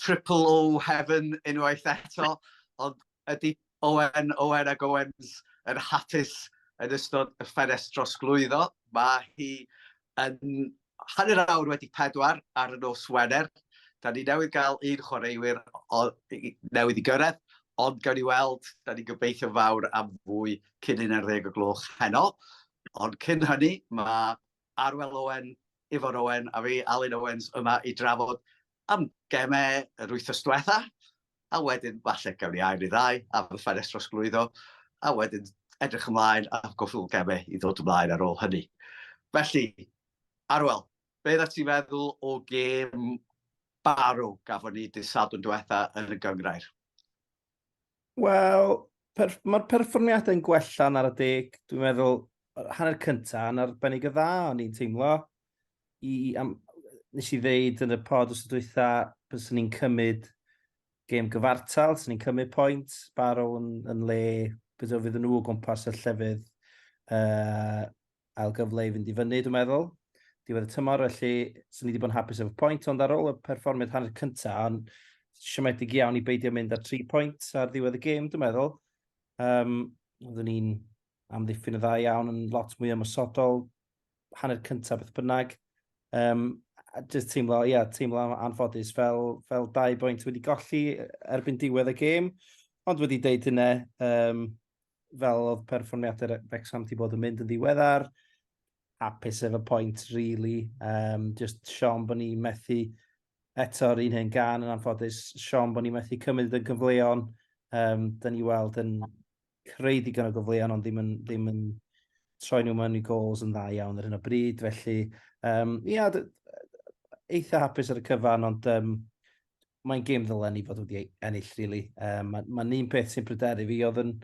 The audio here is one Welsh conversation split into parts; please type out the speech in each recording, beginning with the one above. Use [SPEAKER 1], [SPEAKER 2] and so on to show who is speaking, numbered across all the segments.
[SPEAKER 1] triple O heaven unwaith eto, ond ydy Owen, Owen ac Owens yn hapus yn ystod y ffenest drosglwyddo? Mae hi yn hanner awr wedi pedwar ar y nos Wener. Da ni newydd gael un chwaraewyr newydd i gyrraedd, ond gawn ni weld, da ni'n gobeithio fawr am fwy cyn 11 o gloch heno. Ond cyn hynny, mae Arwel Owen, Ifor Owen a fi, Alun Owens, yma i drafod am gemau yr wythnos diwetha, a wedyn falle gawn ni ail neu ddau ar y ffenest drosglwyddo, a wedyn edrych ymlaen a gwpl o gemau i ddod ymlaen ar ôl hynny. Felly, Arwel, be oeddet ti'n feddwl o gêm Barrow gafon ni dydd Sadwrn diwetha yn y Gynghrair? Wel,
[SPEAKER 2] per, mae'r perfformiadau yn gwella yn ar y deg. Dwi'n meddwl, hanner cyntaf yn arbennig o dda, o'n i'n teimlo. I, am, nes i ddeud yn y pod os ydwytha, bys ni'n cymryd gêm gyfartal, sy'n ni'n cymryd pwynt, Barrow yn, yn le, bys o fydd nhw o gwmpas y llefydd. Uh, ail gyfle i fynd i fyny, dwi'n meddwl. Diwedd y tymor, felly, sy'n ni wedi bod yn hapus efo pwynt, ond ar ôl y perfformiad hanner cyntaf, ond siomedig iawn i beidio mynd ar tri pwynt ar ddiwedd y gêm, dwi'n meddwl. Um, Oeddwn ni'n amddiffyn y dda iawn yn lot mwy ymwysodol, hanner cyntaf beth bynnag. Um, just teimlo, ia, yeah, teimlo anffodus fel, fel dau bwynt wedi golli erbyn diwedd y gêm. Ond wedi deud hynna, um, fel oedd perfformiadau Wrexham ti bod yn mynd yn ddiweddar, hapus efo pwynt, really. Um, just Sean bod ni methu eto'r un hen gan yn anffodus, Sean bod ni methu cymryd yn gyfleon, um, da ni weld yn creu digon o gyfleon ond ddim yn, ddim yn troi nhw mewn i gols yn dda iawn ar hyn o bryd, felly um, ia, eitha hapus ar y cyfan ond um, mae'n gêm ddylen ni fod wedi ei ennill, really. Um, Mae'n ma un peth sy'n pryderu fi, oedd yn,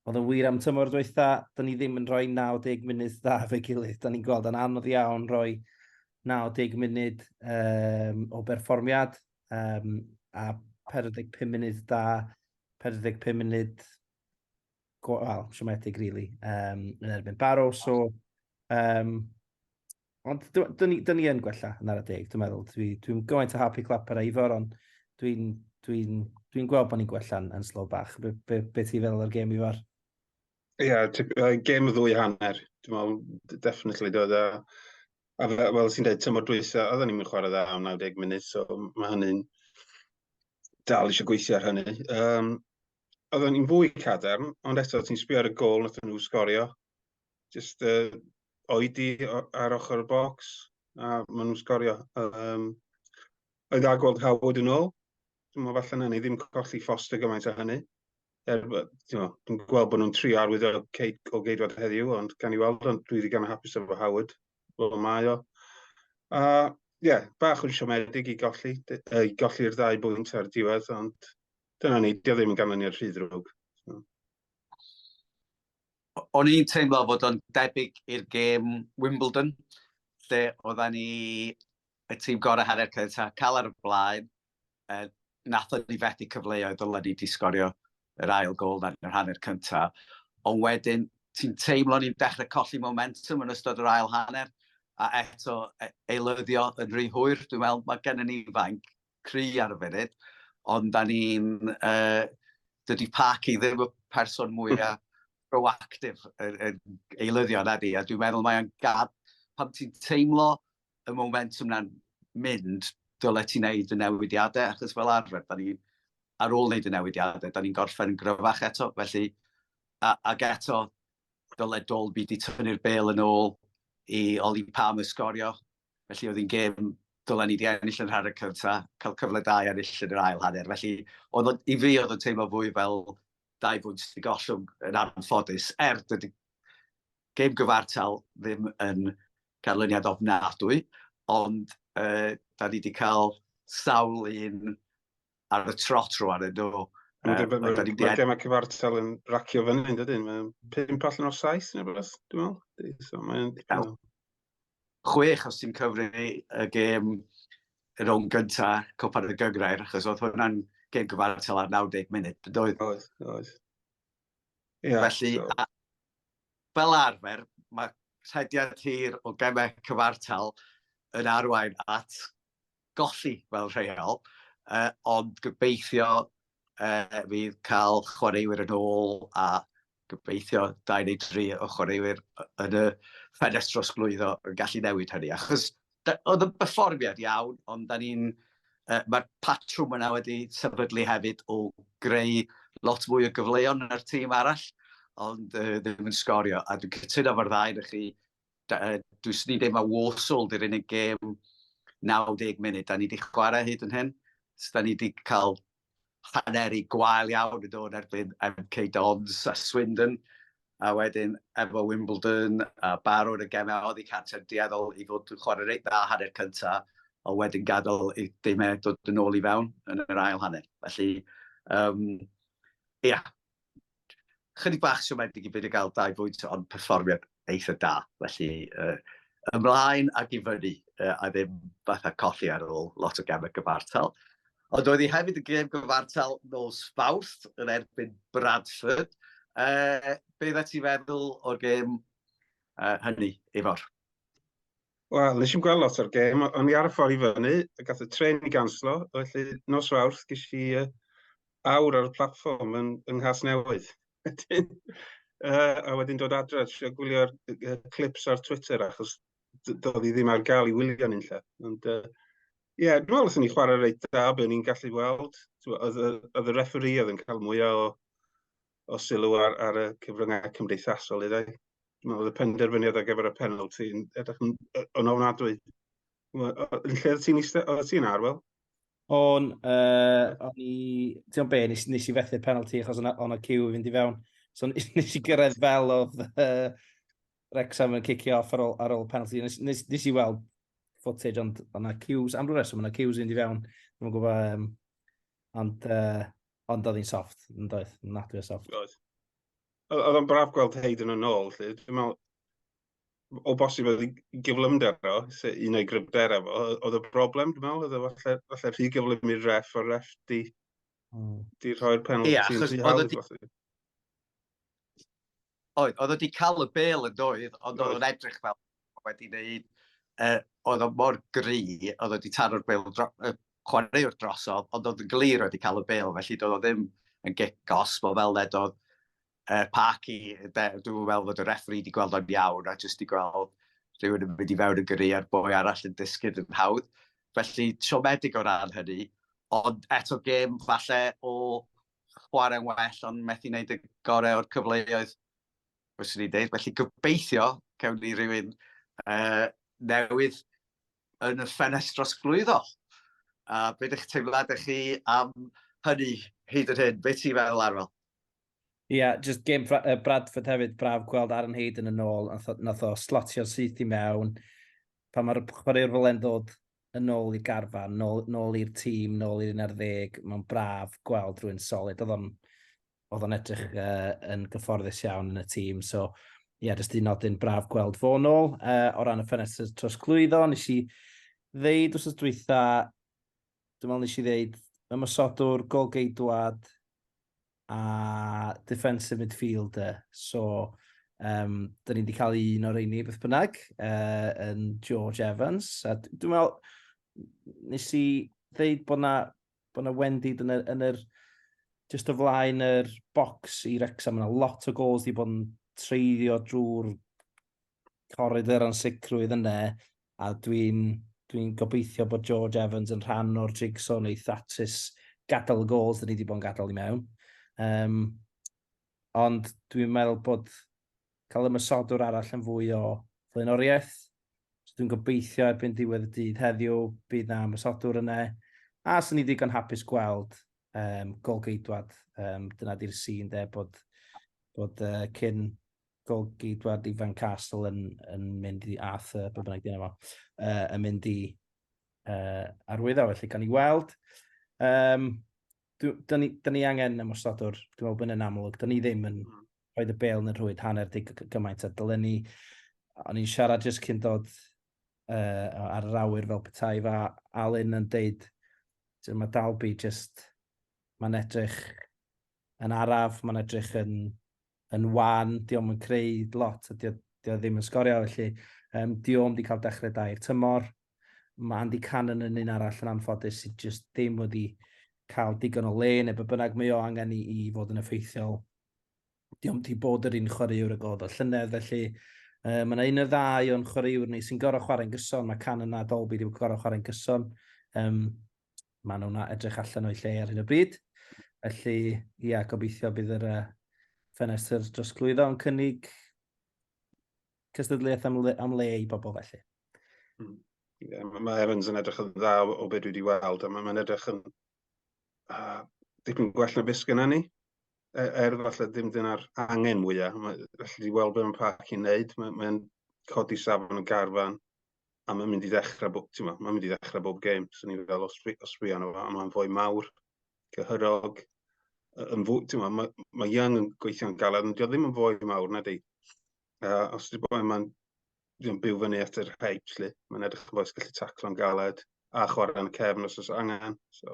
[SPEAKER 2] oedd yn wir am tymor dweitha, da ni ddim yn rhoi 90 munud dda fe gilydd. Da ni'n gweld yn anodd iawn rhoi 90 munud um, o berfformiad um, a 45 munud da, 45 munud wel, siomedig, really, um, yn erbyn Barrow. So, um, Ond dyn ni, ni yn gwella yn ar y deg, dwi'n meddwl. Dwi'n dwi gymaint o happy clapper a Ifor, ond dwi'n dwi dwi gweld bod ni'n gwella yn, yn slow bach. Be, be, be ti feddwl o'r gêm Ifor? Ie, yeah,
[SPEAKER 3] uh, gêm ddwy hanner. Dwi'n meddwl, definitely, dod a... A fel sy'n dweud, tymor dwysa, oedden ni'n mynd chwarae dda am 90 munud, so mae hynny'n dal eisiau gweithio ar hynny. Um, oedden ni'n fwy cadarn, ond eto ti'n sbio ar y gol nath nhw sgorio. jyst uh, oedi ar ochr y bocs a maen nhw'n sgorio. Um, oedd a gweld Howard yn ôl, dwi'n meddwl falle na ni ddim colli Foster gymaint o hynny. Er, dwi'n gweld bod nhw'n tri arwydd o, o geidwad heddiw, ond gan i weld, ond dwi wedi gan hapus efo Howard, fel mae o. A, ie, yeah, bach yn siomedig i golli, i golli'r ddau bwynt ar diwedd, ond dyna ni, dio ddim yn ganlyniad rhy ddrwg.
[SPEAKER 1] o'n i'n teimlo fod o'n debyg i'r gêm Wimbledon, lle oedden ni y tîm gorau hanner cynta, cael ar y blaen, e, nath ni fethu cyfleoedd dylen ni wedi sgorio yr ail gol yn yr hanner cynta, ond wedyn ti'n teimlo ni'n dechrau colli momentum yn ystod yr ail hanner, a eto e, eilyddio yn rhy hwyr, dwi'n meddwl mae gennym ni fainc cry ar y funud, ond da ni'n... Uh, dydy Parky ddim y person mwyaf proactif yn, yn eilyddio na di, a dwi'n meddwl mae'n gad, pam ti'n teimlo y momentum na'n mynd, dyle ti'n neud y newidiadau, achos fel arfer, da ni, ar ôl neud y newidiadau, da ni'n gorffen yn gryfach eto, felly, a, ag eto, dyle Dolby di tynnu'r bel yn ôl i Oli Pam ysgorio Felly oedd hi'n gêm dylen ni di ennill yn rhan y cyntaf, cael cyfle da i ennill yn yr ail hanner. Felly oedd o'n, i fi oedd o'n teimlo fwy fel dau bwynt sydd wedi gollwng yn anffodus, er dydy gêm gyfartal ddim yn ganlyniad ofnadwy, ond uh, da ni wedi cael sawl un ar y trot rwan yn do. Mae
[SPEAKER 3] gem a cyfartal yn racio fyny yn dydyn. Mae'n pimp allan o'r saith neu beth, dwi'n meddwl. So, mae'n... Chwech
[SPEAKER 1] os ti'n cyfri y gem y rown gyntaf, copa'r y gygrair, achos oedd hwnna'n gen gyfartal ar 90 munud, bydoedd? Oedd, oedd.
[SPEAKER 3] Yeah, Felly, so. a, fel
[SPEAKER 1] arfer, mae rhediad hir o gemau cyfartal yn arwain at golli fel rheol, uh, ond gobeithio uh, fydd cael chwaraewyr yn ôl a gobeithio 23 o chwaraewyr yn y ffenestr osglwyddo yn gallu newid hynny. Achos oedd y byfformiad iawn, ond da ni'n uh, mae'r patrwm yna wedi sefydlu hefyd o greu lot mwy o gyfleon yn yr tîm arall, ond uh, ddim yn sgorio. A dwi'n cytuno fo'r ddau, ydych chi dwi jyst yn deud mae Warsaw di'r unig gêm 90 munud da ni wedi chwarae hyd yn hyn. So, da ni wedi cael haneri gwael iawn yn dod erbyn MK Dons a Swindon, a wedyn efo Wimbledon a barod y gemau oedd i Canter dueddol i fod yn chwarae reit dda hanner cynta, a wedyn gadael i dimau dod yn ôl i fewn yn yr ail hanner. Felly, um, ia, chydig bach siomedig i beidio gael dau bwynt, ond perfformiad eitha da. Felly, uh, ymlaen ac i fyny, uh, a ddim fatha colli ar ôl lot o gemau gyfartal. Ond oedd hi hefyd y gem gyfartal nos fawrth yn erbyn Bradford. Uh, be dda ti feddwl o'r gem uh, hynny, Ifor?
[SPEAKER 3] Wel, nes i'n gweld lot o'r gêm, o'n i ar y ffordd i fyny, a gath y tren i ganslo, felly nos fawrth ges i uh, awr ar y platfform yn, yng Nghas Newydd. Wedyn, uh, a wedyn dod adre, trio gwylio'r uh, clips ar Twitter, achos doedd i ddim ar gael i wylio ni'n lle. Ond, uh, Ie, yeah, dwi'n meddwl os o'n i chwarae reit da, be o'n i'n gallu weld. Oedd y referee oedd yn cael mwyaf o o sylw ar, ar y cyfryngau cymdeithasol i ddau. Oedd y penderfyniad ar gyfer y penalty yn edrych yn, yn ofnadwy. Yn lle oedd ti'n eistedd, oedd ti'n ar, wel? O'n,
[SPEAKER 2] uh, o'n i, ti'n o'n be, nes, nes i fethu'r penalty achos o'n o'n cyw i fynd i fewn. So nes i gyrraedd fel oedd uh, Rexham yn cicio off ar ôl, ar ôl penalty. Nes, nes, nes i weld footage ond o'na cues, am rhywbeth, reswm o'na cues i fynd i fewn. Dwi'n gwybod, um, ond uh, Ond oedd hi'n soft, yn doedd, nadwy o soft. Oedd.
[SPEAKER 3] Oedd o'n braf gweld Hayden yn ôl, lle. Dwi'n meddwl, o bosib oedd ei gyflymder o, se un o'i gryfder efo, oedd y broblem, dwi'n meddwl, oedd o falle, falle rhy gyflym i'r ref, o'r ref di, hmm. di rhoi'r penalty yeah, yn rhy hawdd.
[SPEAKER 1] Oedd, oedd wedi cael y bel yn doedd, ond oedd o'n edrych fel wedi wneud, uh, oedd o'n mor gri, oedd wedi taro'r bel dro, uh, chwaraewr drosodd, ond oedd yn glir wedi cael y bel, felly doedd o ddim yn gigos, bod fel led oedd uh, Parky, dwi'n fel fod y refri wedi gweld o'n iawn, a jyst wedi gweld rhywun yn mynd i fewn yn gyrru a'r boi arall yn disgyn yn hawdd. Felly, siomedig o ran hynny, ond eto gêm falle o chwarae'n well ond methu wneud y gorau o'r cyfleoedd fyswn i'n dweud. Felly gobeithio cawn ni rhywun uh, newydd yn y ffenest dros glwyddo. A beth ydych teimlad ych chi am hynny hyd yn hyn? Beth ti'n feddwl arfel? Ie, yeah,
[SPEAKER 2] just gêm uh, Bradford hefyd, braf gweld Aaron Hayden yn ôl, nath o, nath o slotio'r syth i mewn. Pa mae'r chwaraewr fel e'n ddod yn ôl i garfan, nôl, nôl i'r tîm, nôl i'r un ar ddeg. Mae'n braf gweld rhywun solid. Oedd o'n, oedd o'n edrych uh, yn gyfforddus iawn yn y tîm. So, ie, yeah, jyst un nodyn braf gweld fo nôl. Uh, o ran y ffenestr tros clwyddo, nes i ddeud wrth dwytha, dwi'n meddwl nes i ddeud, ymwysodwr, golgeidwad, a defensive midfielder. So, um, dyn ni wedi cael un o'r eini beth bynnag uh, yn George Evans. A dwi'n meddwl, nes i ddeud bod na, bod na Wendy yn yr, yn yr just o flaen yr box i Rexham, yna lot o gols wedi bod yn treiddio drwy'r corrid yr ansicrwydd yna, a dwi'n dwi, n, gobeithio bod George Evans yn rhan o'r jigsaw neu Thatsis gadael y gols dyn ni wedi bod yn gadael i mewn. Um, ond dwi'n meddwl bod cael ymysodwr arall yn fwy o flaenoriaeth. So dwi'n gobeithio erbyn diwedd y dydd heddiw bydd na ymysodwr yna. A sy'n ni ddigon hapus gweld um, golgeidwad. Um, dyna di'r sy'n de bod, bod uh, cyn golgi dwad i Van Castle yn, yn mynd i Arthur, beth bynnag dyn efo, uh, yn mynd i uh, arwyddo, felly gan i weld. Um, da ni, da ni angen ymwysodwr, dwi'n meddwl bod yn amlwg, da ni ddim yn hmm. rhoi y bel yn y rhwyd hanner dig gymaint a dylen ni. O'n i'n siarad jyst cyn dod uh, ar yr awyr fel petai fa Alun yn deud, mae Dalby jyst, mae'n edrych yn araf, mae'n edrych yn yn wan, di o'm yn creu lot, a di o, di o ddim yn sgorio, felly um, di o'm di cael dechrau da i'r tymor. Mae Andy Cannon yn un arall yn anffodus sydd just ddim wedi cael digon o le, neu be bynnag mae o angen i, i fod yn effeithiol. Di o'm di bod yr un chwaraewr y god o llynedd, felly Uh, mae yna un o ddau o'n chwaraewr ni sy'n gorau chwarae'n gyson. Mae Cannon a Dolby wedi gorau chwarae'n gyson. Um, maen nhw'n edrych allan o'i lle ar hyn o bryd. Felly, ia, gobeithio bydd yr uh, ffenestr drosglwyddo yn cynnig cystadleuaeth am le, am le i bobl felly.
[SPEAKER 3] Hmm. Yeah, mae Evans yn edrych yn dda o beth dwi wedi weld, a mae'n edrych yn uh, dipyn gwell na beth gyda ni. Er, er falle ddim dyna'r angen mwyaf, mae, felly wedi weld beth mae'n parc i'n neud, mae'n mae codi safon y garfan, a mae'n mynd i ddechrau, bo, ti'n mae'n mynd i ddechrau bob gêm, so ni'n fel os, os fi anna fo, a mae'n fwy mawr, cyhyrog, yn fwy, ti'n mae, mae Young yn gweithio'n galed, ond ddim yn fwy mawr na di. Uh, os dwi'n bod mae'n ddim byw fyny at yr hype, lle, mae'n edrych yn boes gallu taclo'n galed, a chwarae'n cefn os oes angen. So,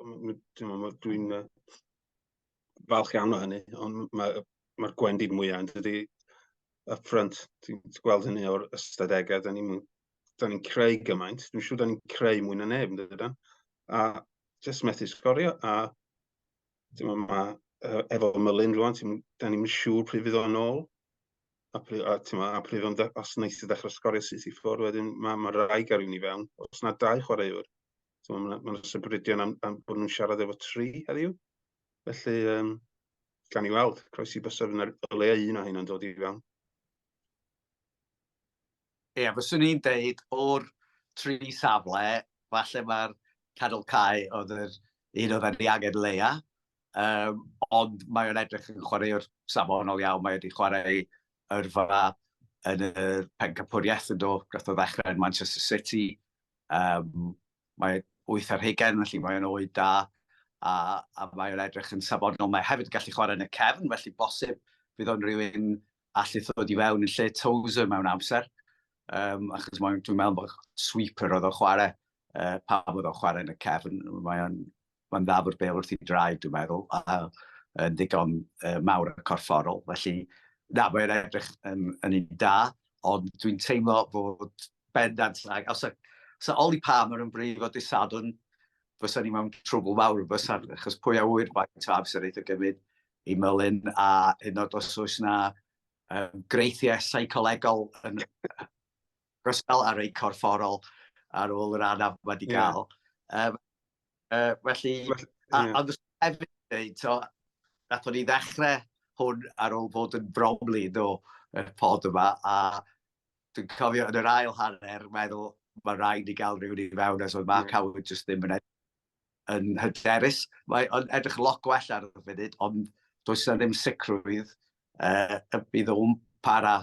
[SPEAKER 3] dwi'n dwi'n falch iawn o hynny, ond mae'r ma gwendid mwyaf yn dydy up front. Ti'n gweld hynny o'r ystadegau, da ni'n ni creu gymaint. Dwi'n siŵr da ni'n creu mwy na neb, yn dydan. A jyst methu sgorio, a ti'n ma, ma, efo Mylun rwan, da ni'n siŵr pryd fydd o'n ôl. A, pryd, a, ma, a pryd o'n, os wnaeth i ddechrau sgorio syth i ffwrdd, wedyn mae ma raig ar i fewn. Os na dau chwaraewr, So, mae yna sybridion am, am bod nhw'n siarad efo tri heddiw. Felly, um, gan i weld, croesi bysaf yn y le un o hyn yn dod i fewn.
[SPEAKER 1] Ie, yeah, fyswn i'n deud o'r tri safle, falle mae'r cadw cae oedd yr un oedd wedi angen leia, um, ond mae o'n edrych yn chwaraewr safonol iawn, mae wedi chwarae yrfa yn y pencapwriaeth yn do, gath o ddechrau yn Manchester City, Um, mae wyth ar hugen, felly mae'n oed da, a, a mae'n edrych yn safonol. Mae hefyd yn gallu chwarae yn y cefn, felly bosib fydd o'n rhywun allu ddod i fewn yn lle Tozer mewn amser. Um, achos mae'n, dwi'n meddwl bod sweeper oedd o'n chwarae, uh, pa bod o'n chwarae yn y cefn, mae'n mae'n dda bod bêl wrth ei draed, dwi'n meddwl, a yn ddigon uh, mawr y corfforol. Felly, na, mae'n edrych yn, yn un da, ond dwi'n teimlo bod bendant, os y, os y Oli Palmer yn brif o disadwn, fysa ni mewn trwbl mawr, fysa, achos pwy a wyr faint o amser eithaf gymryd i mylun, a hyn oed os oes yna um, greithiau seicolegol yn, Rysel ar ei corfforol ar ôl yr anaf mae wedi cael. Yeah. Um, uh, felly, well, yeah. a, ond hefyd dweud, so, nath o'n i ddechrau hwn ar ôl bod yn bromli do y pod yma, a dwi'n cofio yn yr ail hanner, meddwl, mae rhaid i gael rhywun i fewn, as oedd Mark yeah. Howard just ddim yn edrych yn hyderus. Mae o'n edrych lot gwell ar y funud, ond does yna ddim sicrwydd uh, y bydd o'n para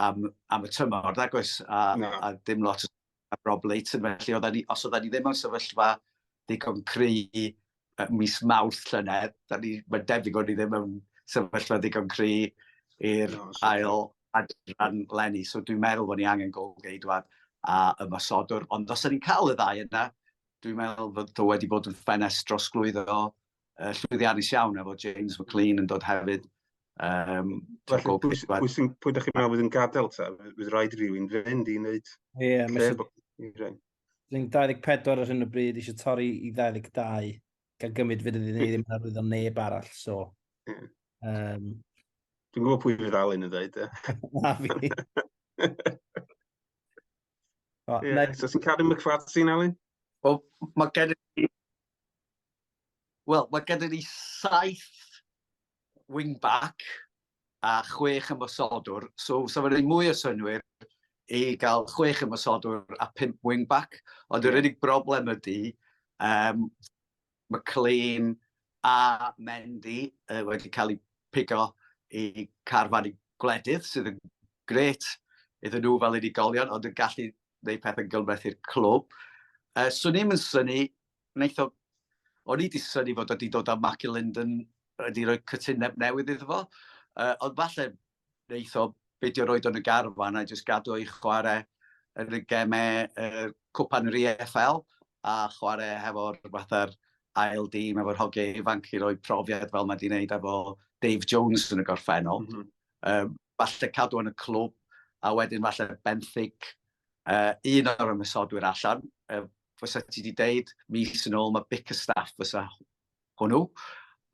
[SPEAKER 1] am, am y tymor, nag oes, a, no. a dim lot o Rob Leighton, felly oedd ni, os oedden ni ddim yn sefyllfa ddigon cry uh, mis mawrth llynedd, mae'n debyg o'n ni ddim yn sefyllfa ddigon cry i'r no, ail adran lenni, so dwi'n meddwl bod ni angen golgeidwad a ymasodwr, ond os ydy'n cael y ddau yna, Dwi'n meddwl fod o wedi bod yn ffenest drosglwyddo uh, llwyddiannus iawn efo James McLean yn dod hefyd. Um,
[SPEAKER 3] Felly, pwy, pwy, pwy, pwy ydych chi'n meddwl fydd yn gadael ta? Fydd rhaid rhywun fynd i wneud... Ie, yeah,
[SPEAKER 2] mae'n... Dwi'n 24 ar hyn o bryd, eisiau torri i 22, gan gymryd fydd iddyn ni ddim yn arwyddo neb arall, so... Mm. Um,
[SPEAKER 3] Dwi'n gwybod pwy fydd Alun yn dweud, e? Na fi. Right, yeah, next. Does Cadw
[SPEAKER 1] McFadden, Ali? Wel, mae gen i... Wel, mae gen i saith wing-back a chwech ymwysodwr. So, sa fe'n ei mwy o synwyr i gael chwech ymwysodwr a pimp wing-back. Ond yr unig broblem ydy, um, Mae claim A Mendy wedi cael ei pigo i Carfan y Gwledydd sydd yn grêt iddyn nhw fel unigolion ond yn gallu gwneud pethau'n gymhleth i'r clwb. Yy, swn i'm yn syni, wneith o... O'n i 'di synnu fod o 'di dod â Mark Linden, wedi rhoi cytundeb newydd iddo fo, yy ond falle wneith o beidio roed o'n y garfan a jyst gadw i chwarae yn y gemau uh, cwpan yr EFL a chwarae hefo'r fatha'r ail dîm efo'r hogiau ifanc i roi profiad fel mae wedi gwneud efo Dave Jones yn y gorffennol. Mm -hmm. um, falle cadw yn y clwb a wedyn falle benthyg uh, un o'r ymwysodwyr allan. Uh, fysa ti wedi deud mis yn ôl mae Bickerstaff fysa hwnnw,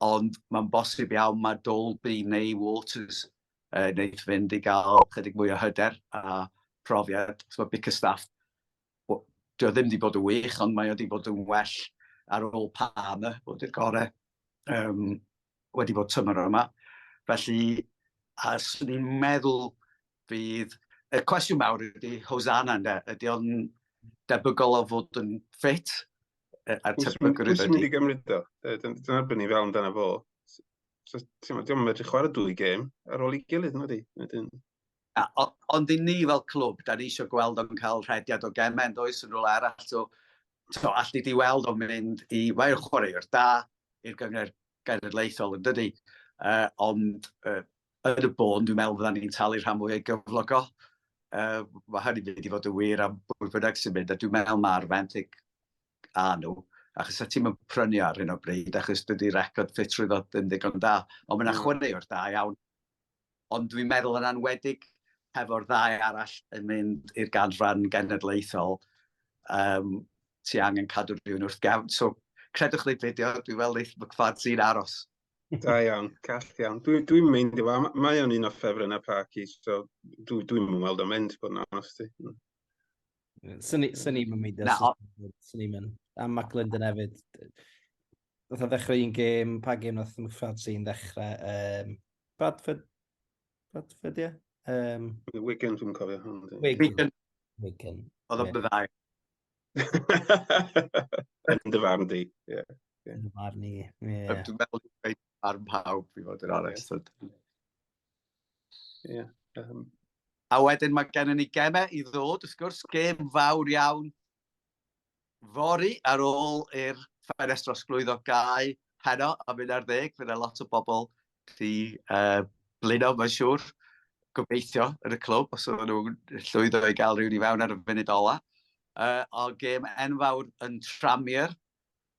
[SPEAKER 1] ond mae'n bosib iawn mae Dolby neu Waters uh, wneud fynd i gael chydig mwy o hyder a profiad. So, Bickerstaff, dio ddim wedi bod yn wych, ond mae wedi bod yn well ar ôl Palmer, bod i'r gorau um, wedi bod tymor yma. Felly, a swn i'n meddwl bydd... Y cwestiwn mawr ydy Hosanna, ydy o'n debygol o fod yn ffit a'r tebygol
[SPEAKER 3] rydw i. Dwi'n mynd i gymryd o. Dwi'n erbyn i fel amdano fo. So, ti'n meddwl, dwi'n medru chwarae dwy gêm ar ôl i gilydd, nid i.
[SPEAKER 1] Ond i ni fel clwb, da ni eisiau gweld o'n cael rhediad o gemau, yn does, yn rôl arall. So, so allu di weld o'n mynd i... Mae'r chwaraewr da i'r gyngor genedlaethol, yn dydy. Uh, ond uh, Yn y bôn, dwi'n meddwl fyddan ni'n talu rhan mwy o'i gyflogol. Uh, mae hynny'n mynd i fod yn wir am bwy bynnag sy'n mynd, a dwi'n meddwl mae'r fenthyg a nhw, achos a ti'n mynd prynu ar hyn o bryd, achos dydy record ffit rwy'n ddod yn ddigon da, ond mae'n mm. chwarae o'r da iawn. Ond dwi'n meddwl yn anwedig hefo'r ddau arall yn mynd i'r ganran genedlaethol, um, ti angen cadw rhywun wrth gefn. So, credwch neu beidio, dwi'n meddwl wneud McFadze'n aros. Da iawn,
[SPEAKER 3] call iawn. Dwi'n dwi meindio, ma, mae o'n un o ffefrynnau Parky, so dwi'n dwi mweld o'n mynd, bod yn onest i.
[SPEAKER 2] Swn i'n mynd i Swn i'n mynd. A Mac Linden hefyd. Oedd o'n ddechrau un gêm, pa gêm nath McFad sy'n ddechrau? Um, Bradford? Bradford, ie? Um,
[SPEAKER 3] Wigan, dwi'n cofio hwn.
[SPEAKER 2] Wigan. Wigan. Oedd o'n byddai.
[SPEAKER 3] Yn dy farn di, ie. Yn fy marn i,
[SPEAKER 2] ie. Dwi'n meddwl dwi'n dweud
[SPEAKER 1] ar mhawb, i fod yn onest. Ie.
[SPEAKER 3] A
[SPEAKER 1] wedyn mae gennym ni gemau i ddod, wrth gwrs, gem fawr iawn fori ar ôl i'r ffenestr osglwyddo gau heno am 11, fe yna lot o bobl gallu uh, blino, mae'n siŵr, gobeithio yn y clwb, os oedden nhw'n llwyddo i gael rhywun i fewn ar y funud ola. Uh, o gêm enfawr yn Tramier,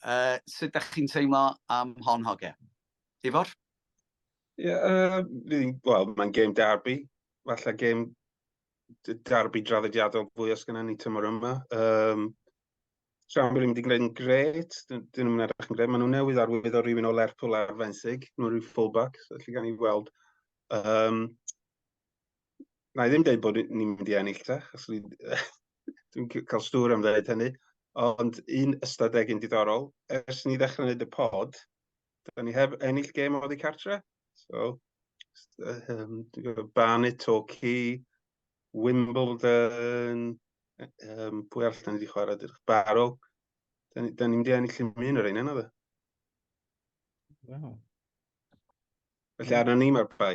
[SPEAKER 1] uh, sut ydych chi'n teimlo am hon hoge? Ifor?
[SPEAKER 3] Ie, yeah, uh, well, mae'n gêm derby, falle gêm derby draddodiadol fwy os gyda ni tymor yma. Um, Siambr ddim wedi gwneud yn gret, dyn nhw'n mynd edrych yn gret. Maen nhw newydd arwydd o rywun o Lerpwl ar fenthyg, nhw rhyw fullback, so lle gan i weld. Um, na i ddim dweud bod ni'n mynd i ennill ta, achos dwi'n cael stŵr am ddeud hynny. Ond un ystadegyn diddorol, ers ni ddechrau wneud y pod, Dan ni heb ennill gêm oddi cartre. So, um, Barnet, Torquay, Wimbledon, um, pwy all dan ni wedi chwarae dyrch Barrow. Dan ni, ni wedi ennill yn mynd o'r un yna fe. Wow. Felly arna ni mae'r bai.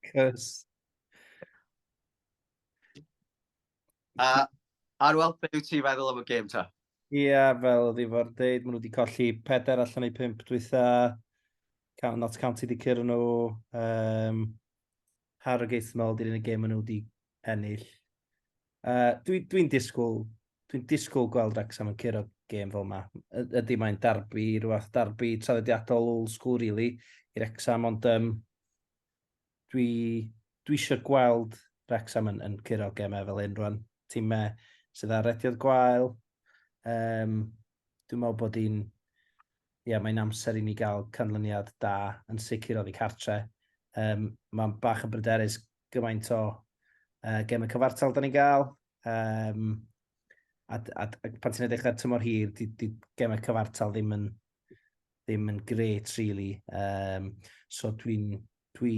[SPEAKER 2] Cys.
[SPEAKER 1] A, Arwel, beth yw ti'n feddwl am y gêm ta? Ie, yeah, fel
[SPEAKER 2] oedd i fod dweud, maen nhw wedi colli pedair allan ei pimp dwytha. Not County wedi cyrra nhw. Um, Harrogate yn ôl, di'r unig gêm maen nhw wedi ennill. Uh, Dwi'n dwi, dwi disgwyl, dwi'n disgwyl gweld Wrexham yn cyrra gêm fel yma. Ydy mae'n darbu, rhywbeth darbu traddodiadol old school, really, i'r Wrexham, ond um, dwi, dwi eisiau gweld Wrexham yn, yn curo gemau fel hyn rwan. Tîmau sydd ar rediodd gwael. Um, dwi'n meddwl bod hi'n... Ie, yeah, mae'n amser i ni gael canlyniad da yn sicr oddi cartre. Um, mae'n bach yn bryderus gymaint o uh, gemau cyfartal da ni'n gael. Um, a, a, a pan ti'n edrych ar tymor hir, di, di gemau cyfartal ddim yn ddim yn gret, really. Um, so dwi'n... Dwi...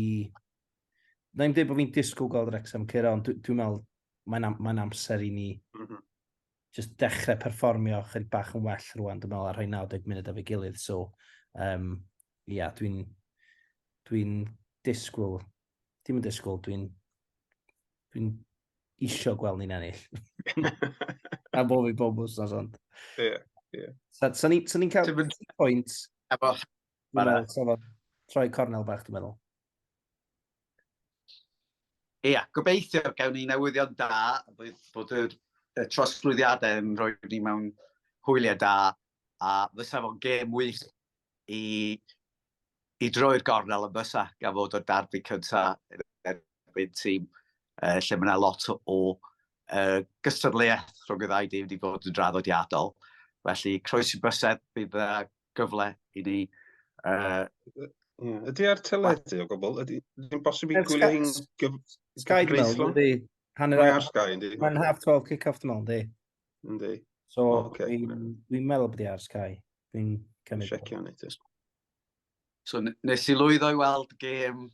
[SPEAKER 2] Na i'n dweud bod fi'n disgwyl gweld Wrexham cyrra, ond dwi'n dwi meddwl mae'n am, mae amser i ni mm -hmm. just dechrau perfformio chyr bach yn well rwan, dwi'n meddwl, ar rhoi 90 munud â fi gilydd. So, um, ia, yeah, dwi'n dwi disgwyl Dim yn disgwyl, dwi'n... Dwi'n isio gweld ni'n ennill. Am bob i bob wsnos, ond... Ie, yeah,
[SPEAKER 3] ie. Yeah. Sa'n so, so
[SPEAKER 2] ni'n cael Timin... pwynt... Efo... Efo... Troi cornel bach, dwi'n meddwl. Ie,
[SPEAKER 1] yeah, gobeithio gawn ni newyddion da, bydd bod yr y trosglwyddiadau yn rhoi ni mewn hwyliau da, a fysa fo'n gêm wych i i droi'r gornel yn fysa gan fod o'r darbu cyntaf erbyn tîm uh, lle mae yna lot o, o uh, gystadleuaeth rhwng y ddau dîm wedi bod yn draddodiadol. Felly, croes i bysedd, bydd yna gyfle i ni... Uh,
[SPEAKER 3] Ydy ar teledu o gwbl? Ydy'n bosib i gwylio
[SPEAKER 2] hi'n gyfreithlon? Sky, dwi'n
[SPEAKER 3] meddwl, ydy. Hanner ar Sky, ydy. Mae'n half 12 kick-off,
[SPEAKER 2] dwi'n meddwl, ydy. Yndi.
[SPEAKER 3] So, oh, okay.
[SPEAKER 2] dwi'n
[SPEAKER 3] dwi meddwl bod i
[SPEAKER 2] ar Sky. Dwi'n cymryd... Siecio ni ti.
[SPEAKER 1] So, nes i lwyddo i weld gêm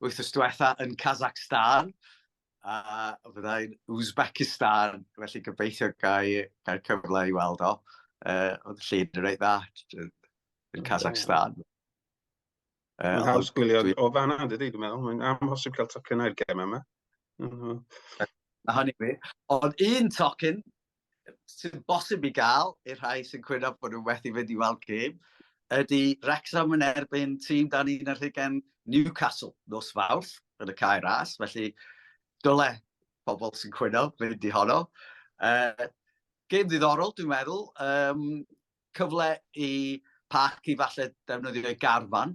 [SPEAKER 1] wythnos diwetha yn Kazakhstan a fyddai'n Uzbekistan, felly gobeithio gael gai cyfle i weld o. Uh, oedd y llun yn reit dda yn Kazakhstan.
[SPEAKER 3] Mae'n haws gwylio dwi... o fanna, dydy, dwi'n meddwl. Mae'n amhosib cael tocyn i'r gem yma.
[SPEAKER 1] A hynny fi. Ond un tocyn sy'n bosib i gael i'r rhai sy'n cwyno bod nhw'n methu fynd i weld gem ydy Wrexham yn erbyn tîm dan un ar hugen Newcastle nos fawrth yn y cae ras. Felly, dyle pobl sy'n cwyno fynd i honno. Uh, gêm ddiddorol, dwi'n meddwl. Um, cyfle i parc i falle defnyddio ei garfan,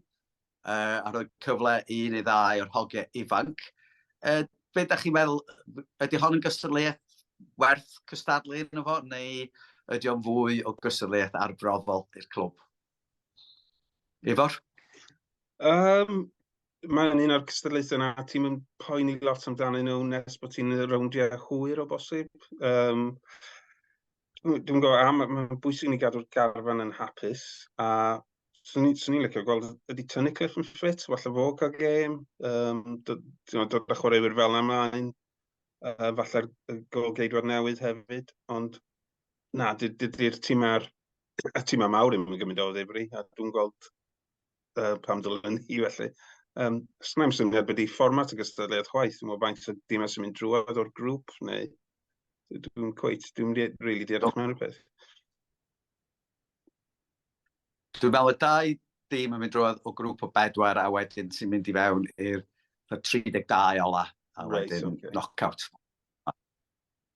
[SPEAKER 1] uh, a rhoi cyfle i un neu ddau o'r hogiau ifanc. Uh, be da chi'n meddwl, ydy hon yn gystadleuaeth werth cystadlu yn efo, neu ydy o'n fwy o gystadleuaeth arbrofol i'r clwb? Ifor? Um,
[SPEAKER 3] mae'n un o'r cystadlaethau na ti'n mynd poeni lot amdano nhw nes bod ti'n rowndiau hwyr o bosib. Um, dwi'n gwybod am, mae'n bwysig ni gadw'r garfan yn hapus, a swn i'n licio gweld ydy tynnu cliff yn ffit, falle fo cael gêm, um, dod, dod â chwaraewyr fel yna ymlaen, uh, falle'r golgeidwad newydd hefyd, ond na, dydy'r tîm a'r y tîm a mawr yn gymryd o ddifri, a dwi'n gweld uh, pam dylen ni felly. Um, os mae'n syniad bod i fformat y gystadleuaeth chwaith, dwi'n meddwl faint o dimau sy'n mynd drwodd o'r grŵp, neu dwi'n cweit, dwi'n rili really deall mewn rhywbeth.
[SPEAKER 1] Dwi'n meddwl y dau dim yn mynd drwodd o grŵp o bedwar a wedyn sy'n mynd i fewn i'r 32 ola, a wedyn right, okay. knock-out.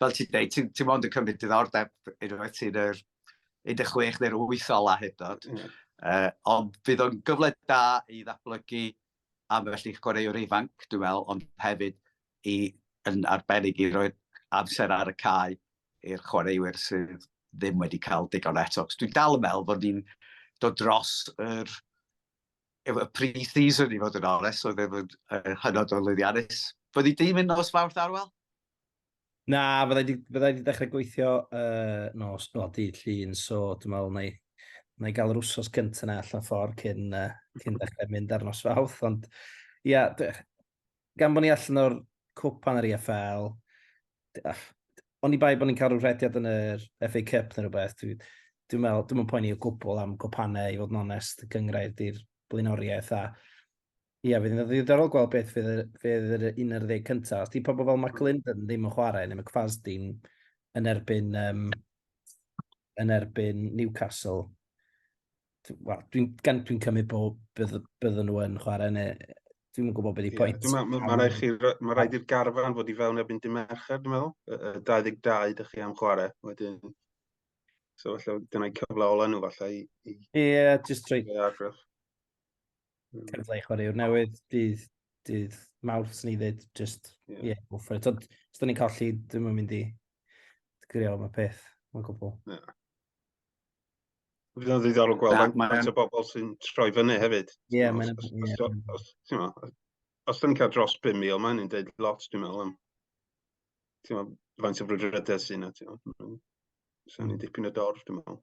[SPEAKER 1] fel ti'n dweud, ti'n ti mond yn cymryd diddordeb unwaith ti'n yr 16 neu'r 8 ola hyd dod. Mm. Uh, ond fydd o'n gyfle da i ddatblygu am felly chwaraewr ifanc, dwi'n meddwl, ond hefyd i, yn arbennig i roi amser ar y cae i'r chwaraewyr sydd ddim wedi cael digon eto. Dwi'n dal yn meddwl bod ni'n dod dros yr y pre-season i fod yn ores, oedd efo'n hynod o lwyddiannus. Fyddi dim yn nos fawrth arwel? Na,
[SPEAKER 2] fydda i wedi dechrau gweithio uh, nos, no, dydd llun, so dwi'n meddwl na i, na i gael yr wsos gyntaf na allan ffordd cyn, uh, cyn dechrau mynd ar nos fawth, ond ia, yeah, gan bod ni allan o'r cwpan yr EFL, ond i bai bod ni'n cael rhyw rhediad yn yr FA Cup neu rhywbeth, dwi'n dwi meddwl, dwi'n meddwl poeni o gwbl am gwpanau i fod yn onest, gyngrair di'r blaenoriaeth a Ia, fydd yn ddiddorol gweld beth fydd yr, fydd yr 11 cyntaf. Os di pobl fel Mark Linden ddim yn chwarae, neu McFasdin yn erbyn, um, yn erbyn Newcastle, dw- wel, dwi'n gan dwi'n cymryd bod bydd, byddwn nhw yn chwarae, neu dwi'n yn gwybod beth i Ie, pwynt. dwi'n meddwl- Mae rhaid chi, mae
[SPEAKER 3] rhaid i'r garfan fod i fewn erbyn dy mercher, dwi'n meddwl. Y- y 22 ydych chi am chwarae, wedyn... So falle dyna'i cyfle ola nhw falle i, i Ie, just trwy,
[SPEAKER 2] gael argraff. cyfle i chwaraewr newydd, dydd, dydd mawrth sy'n ei ddweud, just, ie, yeah. yeah, go for it. Ond, os da ni'n colli, ddim yn mynd i grio am y peth, mae'n gwbl. Yeah.
[SPEAKER 3] Fydd o'n ddiddorol gweld am maen o bobl sy'n troi fyny hefyd. Ie, yeah, mae'n... Os,
[SPEAKER 2] os,
[SPEAKER 3] os, os, os, ni'n cael dros 5,000, mae'n ni'n dweud lot, dwi'n meddwl, am faint o frwydredau sy'n yna. Sa'n ni'n dipyn o dorf, dwi'n meddwl.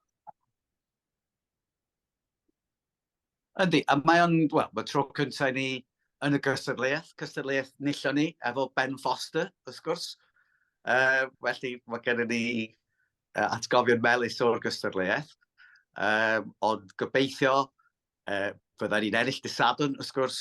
[SPEAKER 1] Yndi, a mae o'n, wel, mae tro cyntaf i ni yn y gystadleuaeth, cystadleuaeth nillon ni, efo Ben Foster, wrth gwrs. Uh, felly, mae gennym ni uh, atgofion melus o'r gystadleuaeth. Um, ond gobeithio, uh, fydda ni'n ennill dysadwn, wrth gwrs,